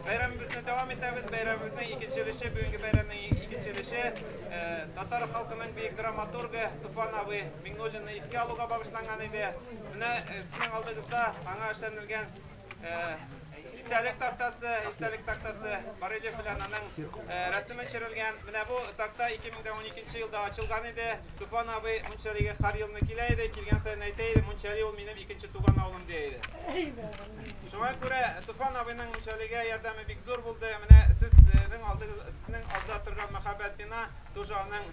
Бәйрәмебезне дәвам итәбез. Бәйрәмебезнең икенче өлеше, бүгенге бәйрәмнең икенче өлеше э, татар халкының бөек драматургы Туфан абый Миңнуллинны искә алуга багышланган иде. Менә э, сезнең алдыгызда аңа эшләнелгән э, истәлек тактасы, истәлек тактасы Барелев белән аның рәсеме төшерелгән. Менә бу такта 2012 елда ачылган иде. Туфан абый Мунчалигә һәр елны килә иде, килгән саен әйтә иде, Мунчали ул минем икенче туган авылым, дия иде. Шуңа күрә Туфан абыйның Мунчалигә ярдәме бик зур булды. Менә сезнең алдыгыз, сезнең алда торган мәһабәт бина тоже аның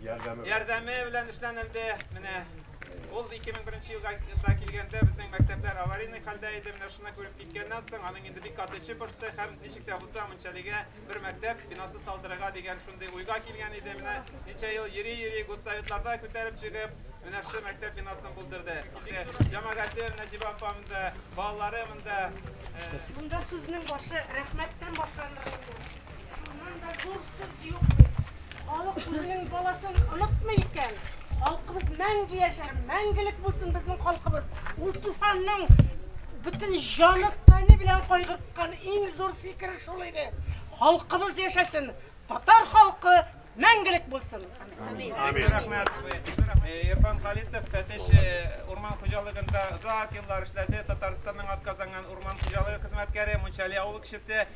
Ярдәме. ярдәме белән эшләнелде. Менә ул 2001 елга да килгәндә безнең мәктәпләр аварийный хәлдә иде. Менә шуны күреп киткәннән соң, аның инде бик каты эче пошты һәм ничек тә булса Мунчалигә бер мәктәп бинасы салдырырга дигән шундый уйга килгән иде. Менә ничә ел йөри-йөри гуссоветларда күтәреп чыгып, менә шушы мәктәп бинасын булдырды. Килде. Җәмәгате Нәҗибә апа монда, балалары монда. Монда сүзнең башы рәхмәттән башланыр инде. Шуннан да зур сүз юк. Халык үзенең баласын онытмый икән, халкыбыз мәңге яшәр, мәңгелек булсын безнең халкыбыз. Ул туфанның бөтен җаны тәне белән кайгырткан иң зур фикере шул иде. Халкыбыз яшәсен, татар халкы мәңгелек булсын. Амин. Амин. Рәхмәт. Ирфан Халитов Тәтеш урман хуҗалыгында озак еллар эшләде. Татарстанның атказанган урман хуҗалыгы хезмәткәре, Мунчали авыл кешесе.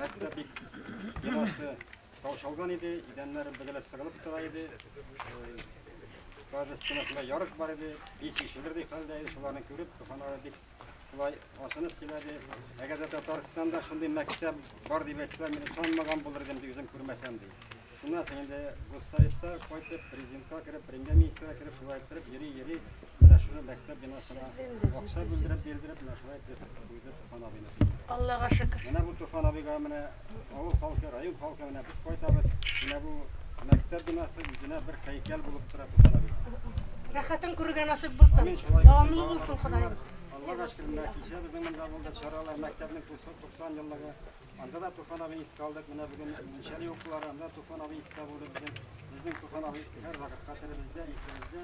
Мәктәп бик бинасы таушалган иде, идәннәре бөгелеп сыгылып тора иде. Даже стенасында ярык бар иде, һич ишелердей хәлдә иде, шуларны күреп, Туфанара бик шулай ашынып сөйләде. Әгәр дә Татарстанда шундый мәктәп бар дип әйтсә, мин ышанмаган булыр идем, ди, үзем күрмәсәм, ди. Шуннан соң инде Гостаевта кайтып, президентка кереп, премьер-министрга кереп, шулай иттереп, йөри-йөри, менә шуны мәктәп бинасына акча бүлдереп, бирдереп, менә шулай итеп куйды Туфан абыйны. Аллага шөкер. Менә бу Туфан абыйга менә авыл халкы, район халкы менә без кайтабыз. Менә бу мәктәп бинасы үзенә бер һәйкәл булып тора Туфан абыйга. Рәхәтен күрергә насыйп булсын. Дәвамлы булсын, Ходаем. Аллага шөкер, менә кичә безнең монда булды чаралар, мәктәпнең 90 еллыгы. Анда да Туфан абыйны искә алдык. Менә бүген мунча юклары, анда Туфан абый искә булды безнең. Безнең Туфан абый һәр вакыт хәтеребездә, исебездә.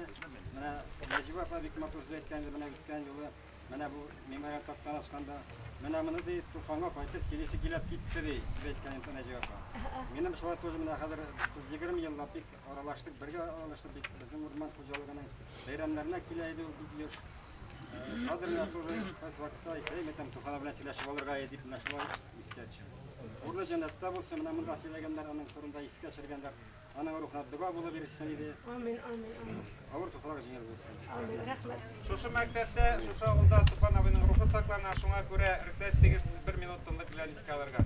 Менә Нәҗибә апа бик матур сүз әйткән иде менә үткән юлы. Менә бу мемориаль тактаны ачканда, менә моны ди Туфанга кайтып сөйлисе килеп китте ди, дип әйткән иде Нәҗибә апа. Минем шулай тоже менә хәзер 30-20 еллап бик Аралаштык, бергә аралаштык бит. Безнең урман хуҗалыгының бәйрәмнәренә килә иде ул бик еш. Хәзер менә тоже кайсы вакытта әйтә, мәтәм Туфана белән сөйләшеп алырга иде, менә шулай искә төшә. Урлы җәннәттә булсын, менә монда сөйләгәннәр аның турында искә төшергәннәр. Аның рухына дога булып ирешсен иде. Амин, амин, амин. Авыр туфрак җиңел булсын. Амин, рәхмәт. Шушы мәктәптә, шушы авылда Туфан абыйның рухы саклана, шуңа күрә рөхсәт итегез бер минут тынлык белән искә алырга.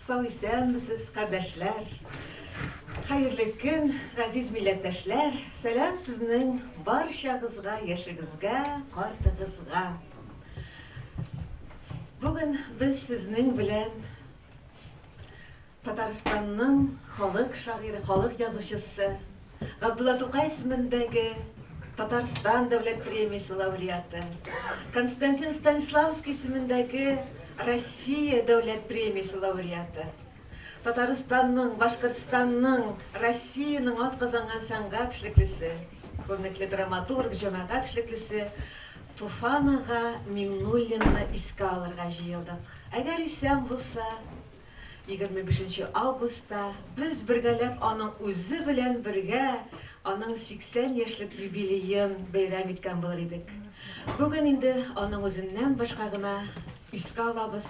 Сау исәнмесез, кардәшләр! Хәерле көн, газиз милләттәшләр! Сәлам сезнең барчагызга, яшегезгә, картыгызга! Бүген без сезнең белән Татарстанның халык шагыйре, халык язучысы, Габдулла Тукай исемендәге Татарстан Дәүләт премиясе лауреаты, Константин Станиславский исемендәге Россия Дәүләт премиясе лауреаты, Татарстанның, Башкортстанның, Россиянең атказанган сәнгать эшлеклесе, күренекле драматург, җәмәгать эшлеклесе Туфан ага Миңнуллинны искә алырга җыелдык. Әгәр исән булса, Егерме бишенче августта без бергәләп аның үзе белән бергә аның 80 яшьлек юбилеен бәйрәм иткән булыр идек. Бүген инде аның үзеннән башка гына искә алабыз.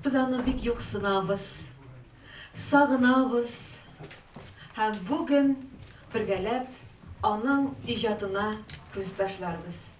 Без аны бик юксынабыз, сагынабыз һәм бүген бергәләп аның иҗатына күз ташларбыз.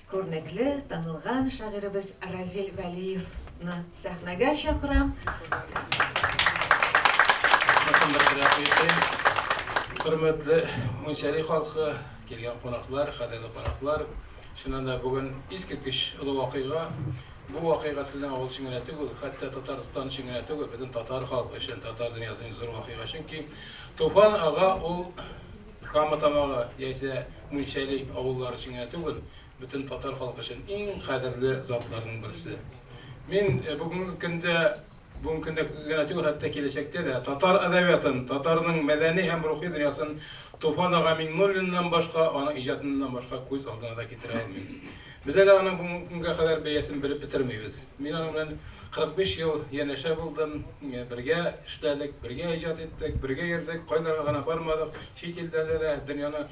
Күрнекле, танылган шагыйребез Разил Вәлиевны сәхнәгә чакырам. Хөрмәтле Мунчари халкы, килгән кунаклар, кадерле кунаклар, чыннан да бүген искиткеч олы вакыйга. Бу вакыйга сезнең авыл өчен генә түгел, хәтта Татарстан өчен генә түгел, бөтен татар халкы өчен, татар дөньясы өчен зур вакыйга, чөнки Туфан ага ул Кама Тамагы яисә Мунчали авыллары өчен генә түгел, бөтен татар халкы өчен иң кадерле затларның берсе. Мин бүгенге көндә, бүгенге көндә генә түгел, хәтта киләчәктә дә татар әдәбиятын, татарның мәдәни һәм рухи дөньясын Туфан ага Миңнуллиннан башка, аның иҗатыннан башка күз алдына да китерә алмыйм. Без әле аның бүгенге көнгә кадәр бәясен белеп бетермибез. Мин аның белән 45 ел янәшә булдым, бергә эшләдек, бергә иҗат иттек, бергә йөрдек, кайларга гына бармадык, чит илләрдә дә, дөньяның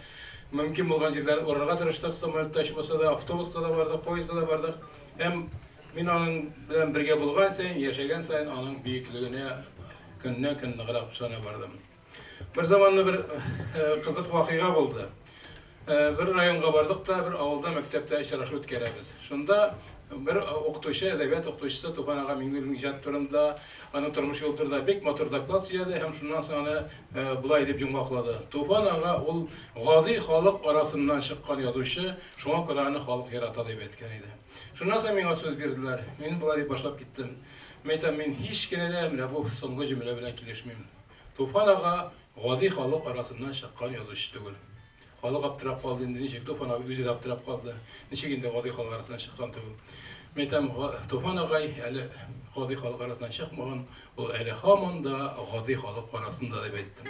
мөмкин булган җирләрен урарга тырыштык, самолетта очып булса да, автобуста да бардык, поездда да бардык. Һәм мин аның белән бергә булган саен, яшәгән саен аның бөеклегенә көннән-көн ныграк ышана бардым. Бер заманны бер кызык вакыйга булды. Бер районга бардык та, бер авылда мәктәптә очрашу үткәрәбез. Шунда бер укытучы, әдәбият укытучысы Туфан ага Миңнуллин иҗат турында, аның тормыш юлы турында бик матур доклад сөйләде һәм шуннан соң аны болай дип йомгаклады. Туфан ага ул гади халык арасыннан чыккан язучы, шуңа күрә аны халык ярата дип әйткән иде. Шуннан соң миңа сүз бирделәр. Мин болай дип башлап киттем. Мәйтәм, мин һич кенә дә менә бу соңгы җөмлә белән килешмим. Туфан ага гади халык арасыннан чыккан язучы түгел. Халык аптырап калды инде, ничек Туфан абый үзе дә аптырап калды, ничек инде гади халык арасыннан чыккан түгел. Мин әйтәм, Туфан агай әле гади халык арасыннан чыкмаган, ул әле һаман да гади халык арасында, дип әйттем.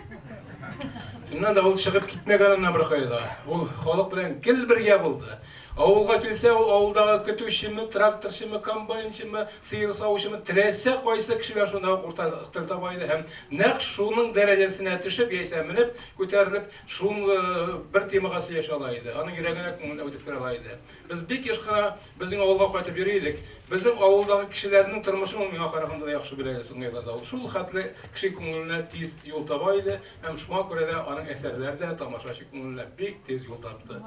Чыннан да, ул чыгып китмәгән аннан беркая да. Ул халык белән гел бергә булды. Авылга килсә, ул авылдагы көтүчеме, тракторчымы, комбайнчымы, сыер савучымы, теләсә кайсы кеше белән шунда ук уртак тел таба иде һәм, нәкъ шуның дәрәҗәсенә төшеп яисә менеп, күтәрелеп, шул бер темага сөйләшә ала иде, аның йөрәгенә, күңеленә үтеп керә ала иде. Без бик еш кына безнең авылга кайтып йөри идек. Безнең авылдагы кешеләрнең тормышын ул миңа караганда да яхшы белә иде соңгы елларда. Ул шул хәтле кеше күңеленә тиз юл таба иде һәм шуңа күрә дә аның әсәрләре дә тамашачы күңеленә бик тиз юл тапты.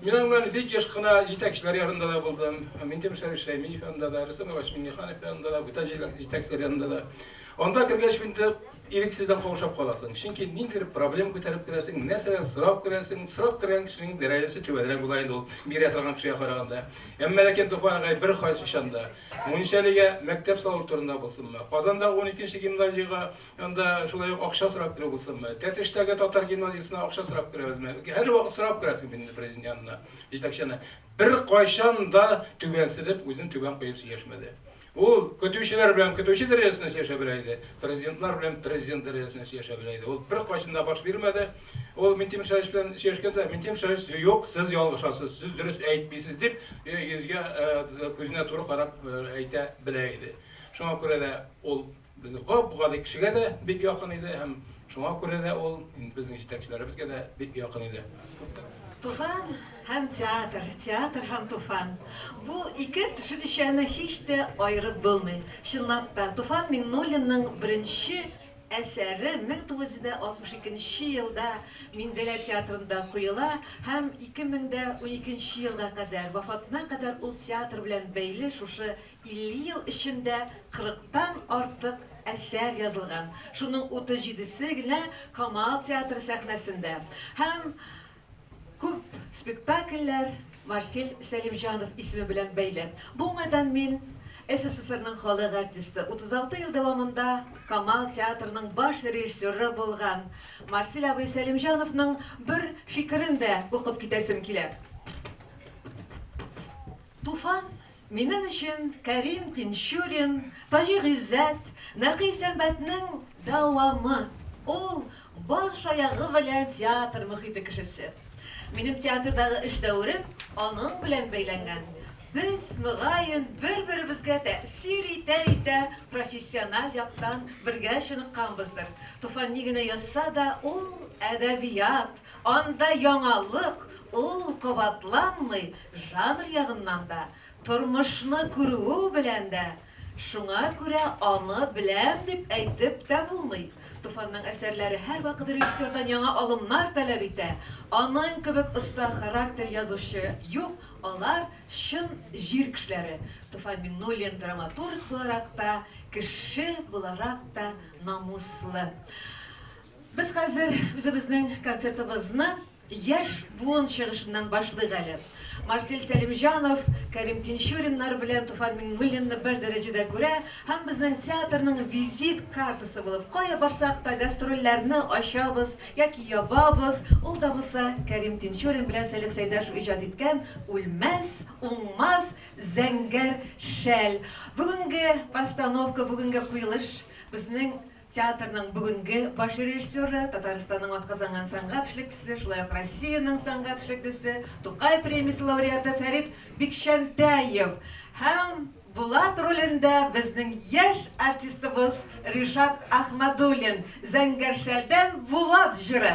Мин аның белән бик еш кына җитәкчеләр янында да булдым. Минтимер Шәриф Шәймиев янында да, Рөстәм Иванович Миңнеханов янында да, бүтән җитәкчеләр янында да. Анда кергәч инде ирексездән каушап каласың. Чөнки ниндидер проблем күтәреп керәсең, нәрсәдер сорап керәсең. Сорап кергән кешенең дәрәҗәсе түбәнрәк була инде ул бирә торган кешегә караганда. Әмма ләкин Туфан агай бер кайчан да Мунчалигә мәктәп салу турында булсынмы, Казандагы 12 нче гимназиягә Анда шулай ук акча сорап керү булсынмы, Тәтештәге татар гимназиясенә акча сорап керәбезме? Һәрвакыт сорап керәсең бит инде президент янына, җитәкче янына. Беркайчан да түбәнсенеп, үзен түбән куеп сөйләшмәде. Ул көтүчеләр белән көтүче дәрәҗәсендә сөйләшә белә иде, президентлар белән президент дәрәҗәсендә сөйләшә белә иде. Ул беркайчан да баш бирмәде. Ул Минтимер Шәһич белән сөйләшкәндә, Минтимер Шәһич, юк, сез ялгышасыз, сез дөрес әйтмисез, дип, йөзгә, күзенә туры карап әйтә белә иде. Шуңа күрә дә ул Безнең гап-гади кешегә дә бик якын иде һәм шуңа күрә дә ул инде безнең җитәкчеләребезгә дә бик якын иде. Туфан һәм театр, театр һәм Туфан. Бу ике төшенчәне һич тә аерып булмый. Чынлап та, Туфан Миңнуллинның беренче әсәре 1962 нче елда Минзәлә театрында куела һәм 2012 нче елга кадәр, вафатына кадәр ул театр белән бәйле шушы 50 ел эчендә 40 тан артык әсәр язылган, шуның 37-се генә Камал театры сәхнәсендә һәм күп спектакльләр Марсель Сәлимҗанов исеме белән бәйле. Бу уңайдан мин СССРның халык артисты, 36 ел дәвамында Камал театрының баш режиссеры булган Марсель абый Сәлимҗановның бер фикерен дә укып китәсем килә. Туфан Минем өчен Кәрим Тинчурин, Таҗи Гыйззәт, Нәкый Сәмбәтнең дәвамы. Ул, баш-аягы белән театр мөхите кешесе. Минем театрдагы эш дәверем аның белән бәйләнгән. Без, мөгаен, бер-беребезгә тәэсир итә-итә профессиональ яктан бергә чыныкканбыздыр. Туфан ни генә язса да, ул, әдәбият! Анда яңалык, ул кабатланмый, жанр ягыннан да, тормышны күрүе белән дә. Шуңа күрә аны беләм дип әйтеп тә булмый. Туфанның әсәрләре һәрвакыт режиссердан яңа алымнар таләп итә. Аның кебек оста характер язучы юк, алар, чын җир кешеләре. Туфан Миңнуллин драматург буларак та, кеше буларак та намуслы. Без хәзер үзебезнең концертыбызны яшь буын чыгышыннан башлыйк әле. Марсель Сәлимҗанов, Кәрим Тинчуриннар белән Туфан Миңнуллинны бер дәрәҗәдә күрә һәм безнең театрның визит картасы булып, кая барсак та гастрольләрне ачабыз яки ябабыз, ул да булса Кәрим Тинчурин белән Сәлих Сәйдәшев иҗат иткән үлмәс, уңмас зәңгәр шәл. Бүгенге постановка, бүгенге куелыш безнең Театрның бүгенге баш режиссеры, Татарстанның атказанган сәнгать эшлеклесе, шулай ук Россиянең сәнгать эшлеклесе, Тукай премиясе лауреаты Фәрит Бикчәнтәев һәм Булат ролендә безнең яшь артистыбыз Ришат Әхмәдуллин, Зәңгәршәлдән Булат җыры.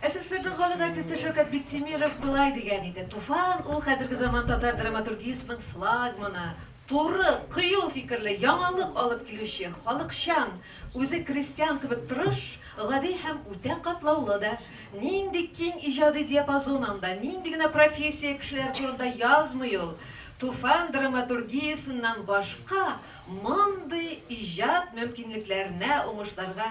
СССРның халык артисты Шәүкәт Биктимиров болай дигән иде, Туфан ул хәзерге заман татар драматургиясенең флагманы, туры, кыю фикерле, яңалык алып килүче, халыкчан, үзе крестьян кебек тырыш, гади һәм үтә катлаулы да. Нинди киң иҗади диапазон анда, нинди генә профессия кешеләре турында язмый ул! Туфан драматургиясеннән башка мондый иҗат мөмкинлекләренә, уңышларга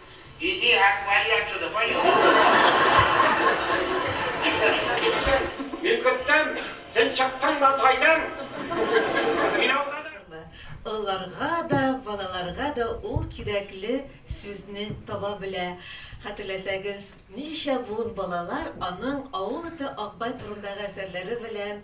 Иди һәм пальячо да пальячо. Мин көттем, син чыктың Матайдан, мин алдадым. Олыларга да, балаларга да ул кирәкле сүзне таба белә. Хәтерләсәгез, ничә буын балалар аның Авыл эте Акбай турындагы әсәрләре белән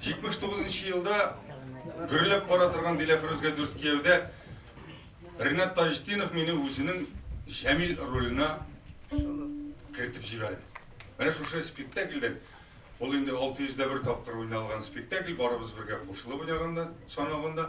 79 нчы елда гөрләп бара торган Диләфрүзгә дүрт кияүдә Ренат Таҗетдинов мине үзенең Җәмил роленә кертеп җибәрде. Менә шушы спектакльдән ул инде 600 дә бер тапкыр уйналган спектакль, барыбыз бергә кушылып уйнаганда, санавында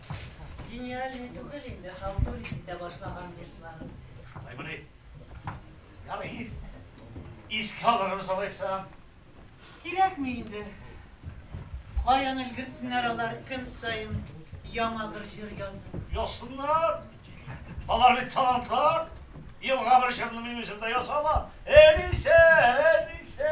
Гениальный түгел инде, халтурить итә башлаган дуслар. Шулаймыни? Ярый. Искә алырбыз алайса. Кирәкми инде. Каян өлгерсеннәр алар көн саен яңа бер җыр язып. Язсыннар. Алар бит талантлар. Елга бер җырны минем үзем дә яза алам. Әнисә, әнисә.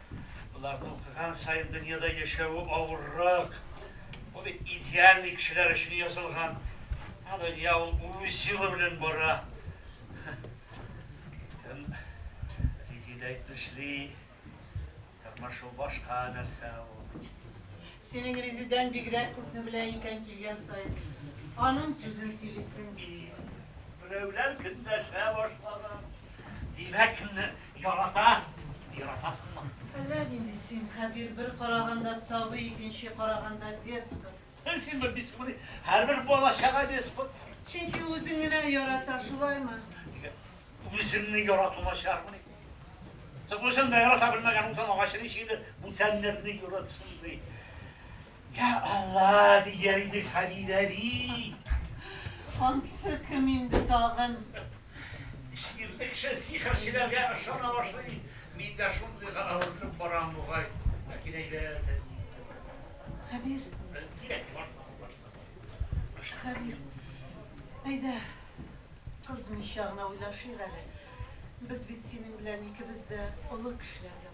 Боларның укыган саен дөньяда яшәве авыррак. Бу бит идеальный кешеләр өчен язылган. Ә дөнья ул үз юлы белән бара. Кем Резеда әйтмешли, тормыш ул башка нәрсә ул. Синең Резедаң бигрәк күпне белә икән килгән саен. Аның сүзен сөйлисең. И, берәүләр көнләшә башлаган. Димәк, Ярата! Яратасыңмы? Әллә нинди син, Хәбир, бер караганда сабый, икенче караганда деспот. Син бер дисыпмыни? Һәрбер бала-чага деспот. Чөнки ул үзен генә ярата, шулаймы? Нигә? Үземне ярату начармыни? Соң үзен дә ярата белмәгән утын агачы ничек инде бүтәннәрне яратсын ди? Йа Алла, дияр иде Хәмид әби. Ансы кем инде тагын? Җирлекче сихерчеләргә ышана башлый. Мин дә шундыйга әверелеп барам бугай. Ләкин әйбәт әби. Хәбир. Кирәк, башла, башла. Башла. Хәбир, әйдә, кыз мичагына уйлашыйк әле. Без бит синең белән икебез дә олы кешеләргә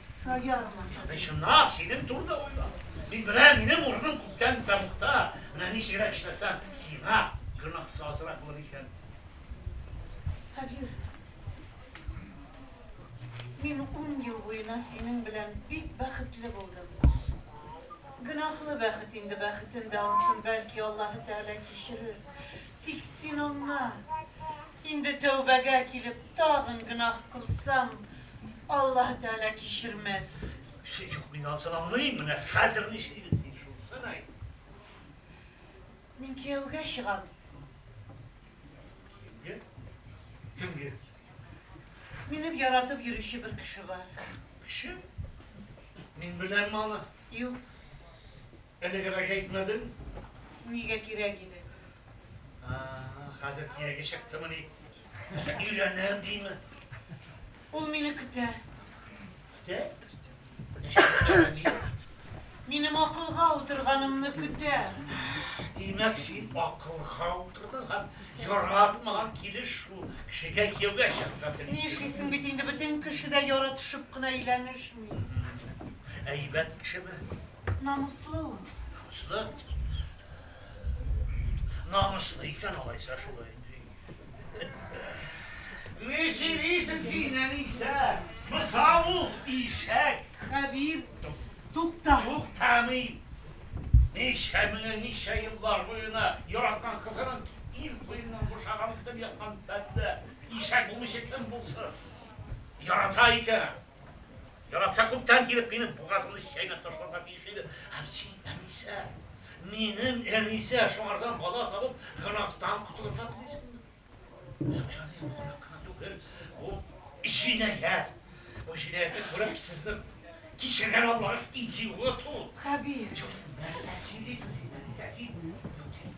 Саярмы? Ягъни, чынлап, синең турыда уйлап. Мин беләм, минем урыным күптән тәмугта. Менә ничегрәк эшләсәм, сиңа гөнаһысы азрак булыр икән. Хәбир, мин ун ел буена синең белән бик бәхетле булдым. Гөнаһлы бәхет инде, бәхетен дә ансын, бәлки, Аллаһы Тәгалә кичерер. Тик син аңла. Инде тәүбәгә килеп тагын гөнаһ кылсам, Аллаһ Тәгалә кичермәс. Шик юк, мин анысын аңлыйм, менә хәзер нишлибез, син шунысын әйт. Мин кияүгә чыгам. Кемгә? Кемгә? Минем яратып йөрүче бер кеше бар. Кеше? Мин беләмме аны? Юк. Элегрәк әйтмәдең? Нигә кирәк иде? А-а, хәзер киреге чыктымыни? Нәрсә, өйләнәм диме? Ул мине көтә. Көтә? Ничек көтә ди? Минем акылга утырганымны көтә. Димәк, син акылга утырдың һәм яратмаган килеш шул кешегә кияүгә чыгарга телисең. Нишлисең бит инде, бөтен кеше дә яратышып кына өйләнешми. Әйбәт кешеме? Намуслы ул. Намуслы? Намуслы икән алайса шулай. Ни сөйлисең син, Әнисә? Мисал ул, ишәк. Хәбир, тукта. Туктамыйм. Ничә меңә, ничә еллар буена яраткан кызының ир куеннан бушаган итеп яткан бәндә ишәк булмыйча кем булсын? Ярата икән. Яратса, күптән килеп, минем бугазымны чәйнәп ташларга тиеш иде. Ә син, Әнисә, минем Әнисә, шуңардан бала табып, гөнаһтан котылырга телисеңме? Юк, җаный, бу гөнаһ кына түгел, бу җинаять. Бу җинаятьне күреп, сезнең кичергән Аллагыз идиот ул. Хәбир. Юк, нәрсә сөйлисең син, Әнисә, син, юк, син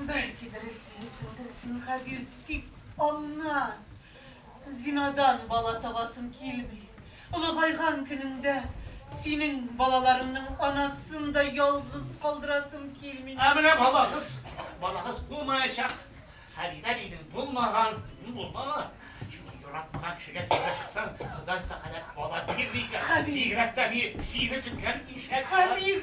Бәлкидер эзлисеңдер син габир дип аннан. Зинадан бала табасым килми. Олыгайган көнеңдә синең балаларыңның анасын да ялгыз калдырасым килми. Ә менә балагыз, балагыз булмаячак. Хәлидә дидең, булмаган. Булмаган. Чөнки яраткан кешегә тиргә чыксаң, Ходай Тәгалә бала бирми икән. Хәбир! Бигрәк тә ни, сине көткән ишәк. Хәбир!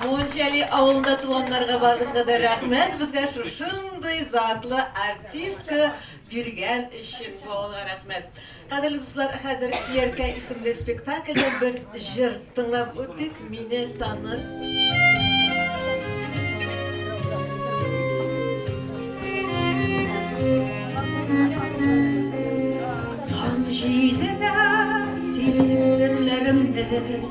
Мунчали авылында туганнарга барыгызга да рәхмәт, безгә шушындый затлы артистка биргән өчен бу авылга рәхмәт. Кадерле дуслар, хәзер Чияркә исемле спектакльдә бер җыр тыңлап үтик, мине таныр. Таң җиленә сөйлим серләремне.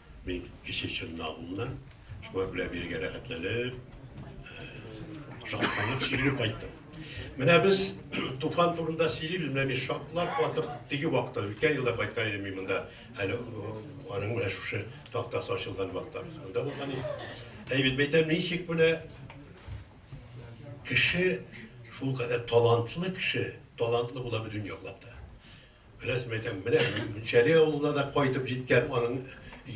Мин кече чыннагымнан шулар белән бергә рәхәтләнеп, шатланып сөйләп кайттым. Менә без туфан турында сөйлибез, менә мин шатлап атып теге вакытта үткән елда кайткан идем мин монда. Әле аның менә шушы тактасы ачылган вакытта без монда булган идек. Әй бит мәйтәм, ничек менә кеше шул кадәр талантлы кеше, талантлы була бөтен яклап та. Беләсем әйтәм, менә Мөнчәли авылына да кайтып җиткән аның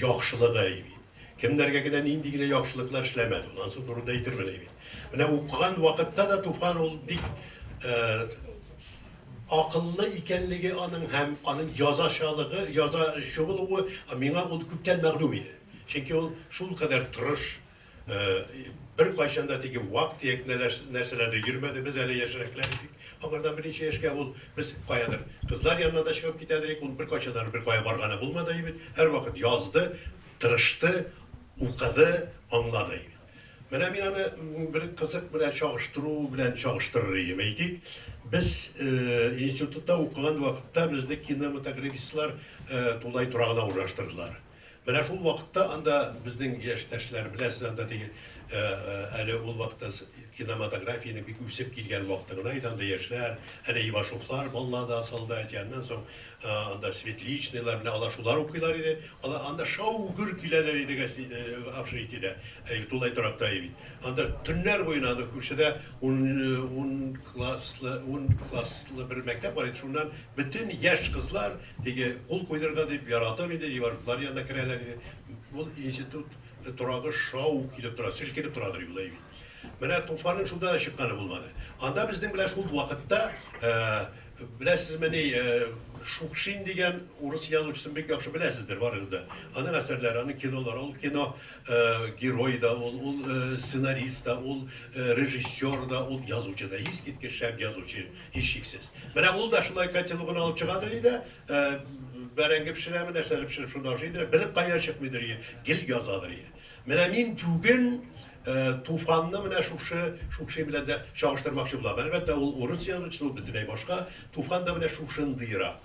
яхшылыгы әй бит. Кемнәргә генә нинди генә яхшылыклар эшләмәде ул, ансы турында әйтермен әй бит. Менә укыган вакытта да Туфан ул бик акыллы икәнлеге аның һәм аның язачалыгы, язачы булуы миңа ул күптән мәгълүм иде. Чөнки ул шулкадәр тырыш, Беркайчан да теге вак-төяк нәрсәләрдә йөрмәде, без әле яшьрәкләр идек. Аңардан берничә яшькә ул без каядыр кызлар янына да чыгып китә идек. Ул беркайчан да беркая барганы булмады иде бит. Һәрвакыт язды, тырышты, укыды, аңлады иде бит. Менә мин аны бер кызык белән чагыштыру белән чагыштырыр идем. Әйтик, без институтта укыган вакытта безне кинематографистлар тулай торагына урнаштырдылар. Менә шул вакытта анда безнең яшьтәшләр, беләсез, анда теге әле ул вакытта киноматографиянең бик үсеп килгән вакыты гына иде, анда яшьләр, әнә Ивашовлар, Баллада, Солдатия, аннан соң анда Светличныйлар, менә алар шулар укыйлар иде, алар анда шау-гөр киләләр иде Общежитиедә, әле тулай торакта иде бит. Анда төннәр буена анда күршедә ун класслы бер мәктәп бар иде, шуннан бөтен яшь кызлар, Теге, кул куйдырырга дип, яратып инде Ивановлар янына керәләр иде. Ул институт торагы шау килеп тора, селкенеп торадыр юл, әйбит. Менә Туфанның шунда да чыкканы булмады. Анда безнең белән шул вакытта, беләсезмени, Шукшин дигән урыс язучысын бик яхшы беләсездер барыгыз да. Аның әсәрләре, аның кинолары, ул кино герое да ул, ул сценарист та, ул режиссер да, ул язучы да, искиткеч шәп язучы. Һичшиксез. Менә ул да шулай котелогын алып чыгадыр иде, бәрәңге пешерәме, нәрсәдер пешереп шунда ашый идер, бер кая чыкмыйдыр иде, гел язадыр иде. Менә мин бүген Туфанны менә шушы Шукшин белән дә чагыштырмакчы булам. Әлбәттә, ул урыс язучысы, ул бөтенләй башка. Туфан да менә шушындыйрак.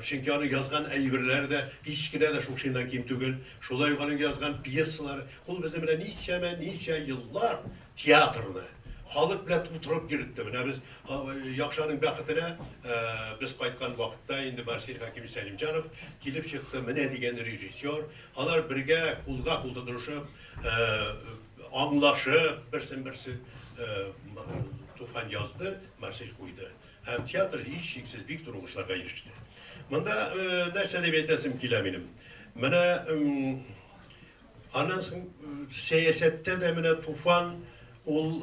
Чөнки аның язган әйберләре дә һич кенә дә Шукшиннан ким түгел. Шулай ук аның язган пьесалары. Ул безне менә ничәмә ничә еллар Театрны, халык белән тутырып йөретте. Менә без Якшаның бәхетенә, без кайткан вакытта инде Марсель Хәкимович Сәлимҗанов килеп чыкты, менә дигән режиссер. Алар бергә кулга-кул тотынышып, аңлашып, берсен-берсе Туфан язды, Марсель куйды. Һәм театр һичшиксез бик зур уңышларга иреште. Монда нәрсә дип әйтәсем килә минем? Менә Аннан соң сәясәттә дә менә Туфан, ул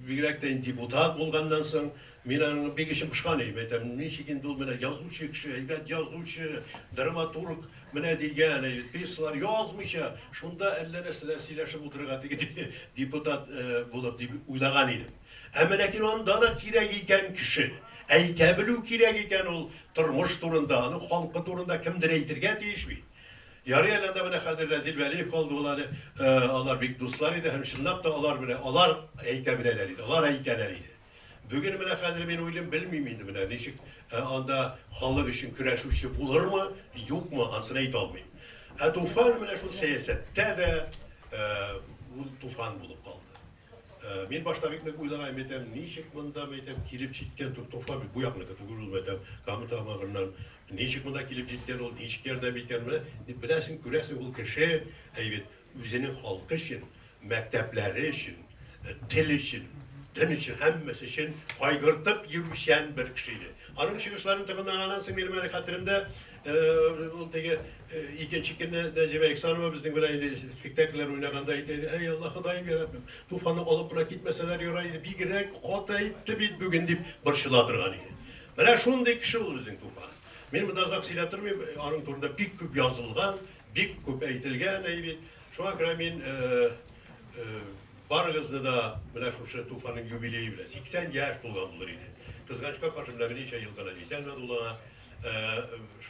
бигрәк тә инде депутат булганнан соң, мин аны бик эчем пошкан иде. Әйтәм, ничек инде ул менә язучы кеше, әйбәт язучы, драматург менә дигән, пьесалар язмыйча, шунда әллә нәрсәләр сөйләшеп утырырга теге депутат булып дип уйлаган идем. Әмма ләкин анда да кирәк икән кеше. Әйтә белү кирәк икән ул тормыш турында, аның халкы турында кемдер әйтергә тиеш бит. Ярый әле анда менә хәзер Рәзил Вәлиев калды ул әле, алар бик дуслар иде һәм чынлап та алар менә алар әйтә беләләр иде, алар әйтәләр иде. Бүген менә хәзер мин уйлыйм, белмим инде менә ничек анда халык өчен көрәшүче булырмы, юкмы, ансын әйтә алмыйм. Ә Туфан менә шул сәясәттә дә ул Туфан булып калды. Мин башта бик нык уйлаган идем, ничек монда мәйтәм килеп җиткән Туфан бит бу якныкы түгел ул мәйтәм Кама Тамагыннан Ничек монда килеп җиткән ул, ничек ярдәм иткән, менә дип беләсең, күрәсең, ул кеше, әй бит, үзенең халкы өчен, мәктәпләре өчен, тел өчен, дин өчен, һәммәсе өчен кайгыртып йөрүчән бер кеше иде. Аның чыгышларын тыңлаганнан соң минем әле хәтеремдә ул теге икенче көнне Нәҗибә Ихсанова безнең белән инде спектакльләр уйнаганда әйтә иде, әй Алла Ходаем яраббим, Туфанны алып кына китмәсәләр ярар иде, бигрәк каты әйтте бит бүген, дип борчыла торган иде. Менә шундый кеше ул безнең Тукай. Мин монда озак сөйләп тормыйм, аның турында бик күп язылган, бик күп әйтелгән, әй бит. Шуңа күрә мин барыгызны да менә шушы Тукайның юбилее белән, 80 яшь тулган булыр иде. Кызганычка каршы, менә берничә ел гына җитә әле ул аңа.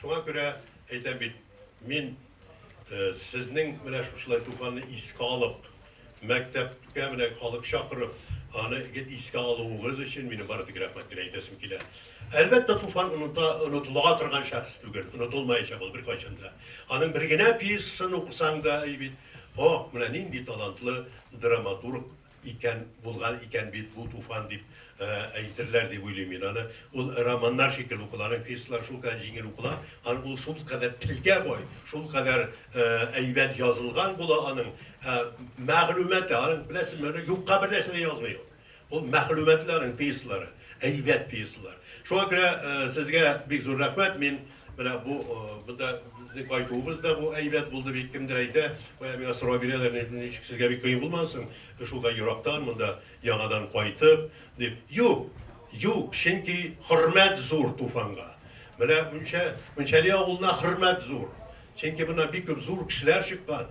Шуңа күрә әйтәм бит. Мин сезнең менә шушылай Туфанны искә алып, мәктәпкә менә халык чакырып, аны гел искә алуыгыз өчен минем бары тик рәхмәт кенә әйтәсем килә. Әлбәттә, Туфан оныта, онытыла торган шәхес түгел, онытылмаячак ул беркайчан да. Аның бер генә пьесасын укысаң да, әй бит, ох, менә нинди талантлы драматург! Икән, булган икән бит бу туфан дип әйтерләр дип уйлыйм мин аны. Ул романнар шикелле укыла, аның пьесалары шул кадәр җиңел укыла, аны ул шул кадәр телгә бай, шул кадәр әйбәт язылган була аның ә мәгълүматы, аның беләсезме, аны юкка бер нәрсә дә язмый ул. Ул мәгълүматлы аның пьесалары, әйбәт пьесалар. Шуңа күрә сезгә бик зур рәхмәт, мин Менә бу монда безнең кайтуыбыз да бу әйбәт булды бит. Кемдер әйтә, бая миңа сорау бирәләр, ничек сезгә бик кыен булмады соң, шулай ерактан монда яңадан кайтып, дип. Юк, юк, чөнки хөрмәт зур Туфанга. Менә Мөнчәли авылына хөрмәт зур. Чөнки моннан бик күп зур кешеләр чыккан.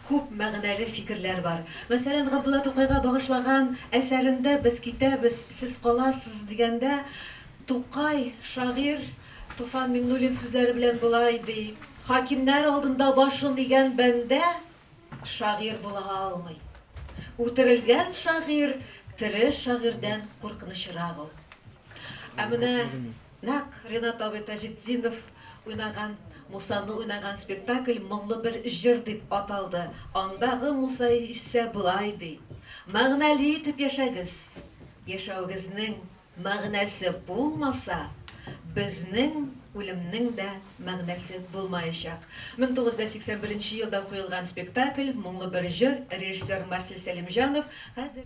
Күп мәгънәле фикерләр бар. Мәсәлән, Габдулла Тукайга багышлаган әсәрендә Без китәбез, сез каласыз дигәндә, Тукай, шагыйрь Туфан Миңнуллин сүзләре белән болай ди, Хакимнәр алдында башын игән бәндә шагыйрь була алмый. Үтерелгән шагыйрь тере шагыйрьдән куркынычрак ул. Ә менә нәкъ Ренат абый Таҗетдинов уйнаган, Мусаны уйнаган спектакль Моңлы бер җыр дип аталды. Андагы Муса исә болай ди, Мәгънәле итеп яшәгез. Яшәвегезнең мәгънәсе булмаса, безнең үлемнең дә мәгънәсе булмаячак. 1981 елда куелган спектакль Моңлы бер җыр, режиссер Марсель Сәлимҗанов, хәзер.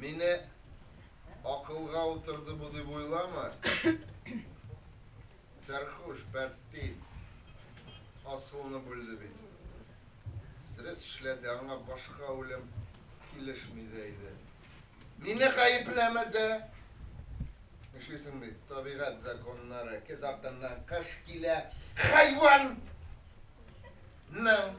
Мине акылга утырды бу дип уйлама. Сәрхуш, пәрти, асылны бүлде бит. Дөрес эшләде, аңа башка үлем килешми дә иде. Мине гаепләмә дә. Эшлисең бит, табигать законнары, кез артыннан кыш килә, хайван! Ның!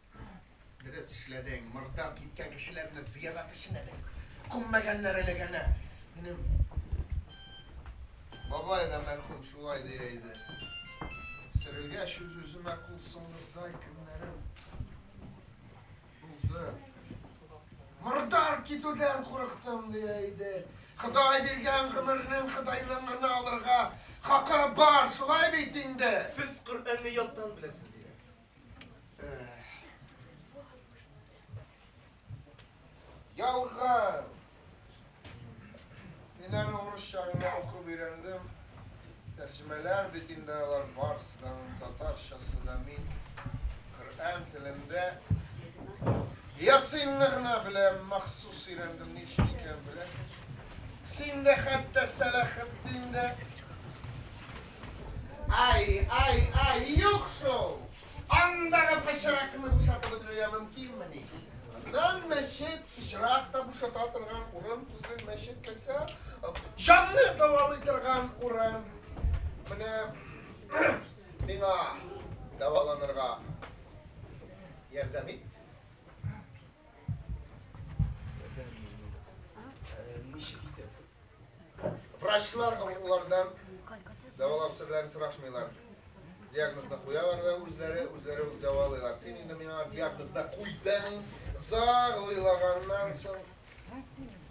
Дөрес эшләдең, мордам киткән кешеләрне зыярат эченә дә күммәгәннәр әлеге әнә. Минем бабай да мәрхүм шулай дия иде. Сөрелгәч үз-үземә кул соңгырдай көннәрем булды. Мордам китүдән курыктым дия иде. Ходай биргән гомернең Ходайның гына алырга хакы бар, шулай бит инде. Сез Коръәнне яттан беләсез, диде. Ялган! Мин әле урыс чагында укып өйрәндем. Тәрҗемәләр бит инде алар барысы да татарчасы да мин Коръән телендә Ясинны гына беләм, махсус өйрәндем, ни өчен икәнен беләсең. Син дә хәтта Сәләхетдин дә Ай, ай, ай, юк шул! Андагы пычракны бушатып бетерергә мөмкинмени? Аннан мәчет, пычрак та бушата торган урын түгел, мәчет килсә, җанны дәвалый торган урын. Менә миңа дәваланырга ярдәм ит. Врачлар олардан дәвалап серләрен сорашмыйлар. Диагнозны куялар да үзләре, үзләре үк дәвалыйлар. Син инде миңа диагнозда куйдың, зар уйлаганнан соң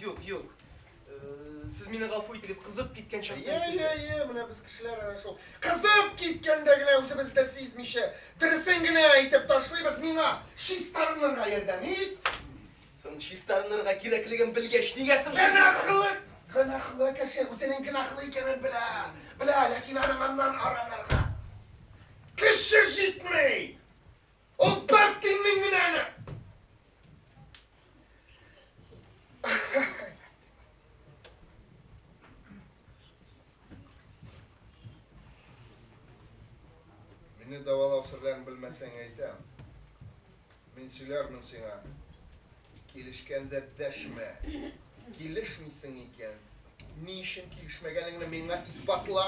Юк, юк. Сез мине гафу итегез, кызып киткән чакта. Йә, йә, йә, менә без кешеләр ана шул. Кызып киткәндә генә үзебез дә сизмичә, дөресен генә әйтеп ташлыйбыз. Миңа чистарынырга ярдәм ит. Соң чистарынырга кирәклеген белгәч, нигә соң? Гөнаһлы, гөнаһлы кеше үзенең гөнаһлы икәнен белә. Белә, ләкин аның аннан арынырга көче җитми. Ул бер тиеннең генә әле. Мине давалау серләрен белмәсәң әйтәм. Мин сөйләрмен сиңа. Килешкәндә дәшмә. Килешмисең икән, ни өчен килешмәгәнеңне миңа исбатла.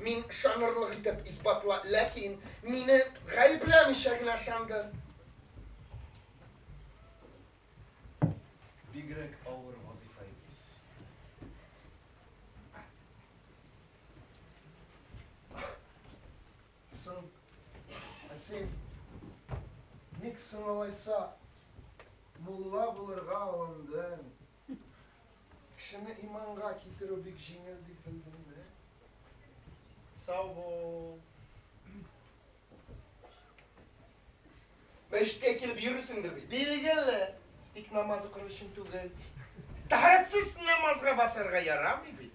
Мин ышанырлык итеп исбатла, ләкин мине гаепләмичә генә ышанды. Бигрәк авыр вазыйфа йөклисез. Соң, ә син ник соң алайса мулла булырга алындың? Дип, кешене иманга китерү бик җиңел дип белдем инде. Сау бул. Мәчеткә килеп йөрүсеңдер бит. Билгеле. Тик намаз укыр өчен түгел. Тәһарәтсез намазга басарга ярамый бит.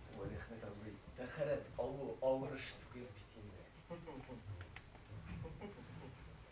Сәләхмәт абзый, тәһарәт алу авыр эш түгел бит инде.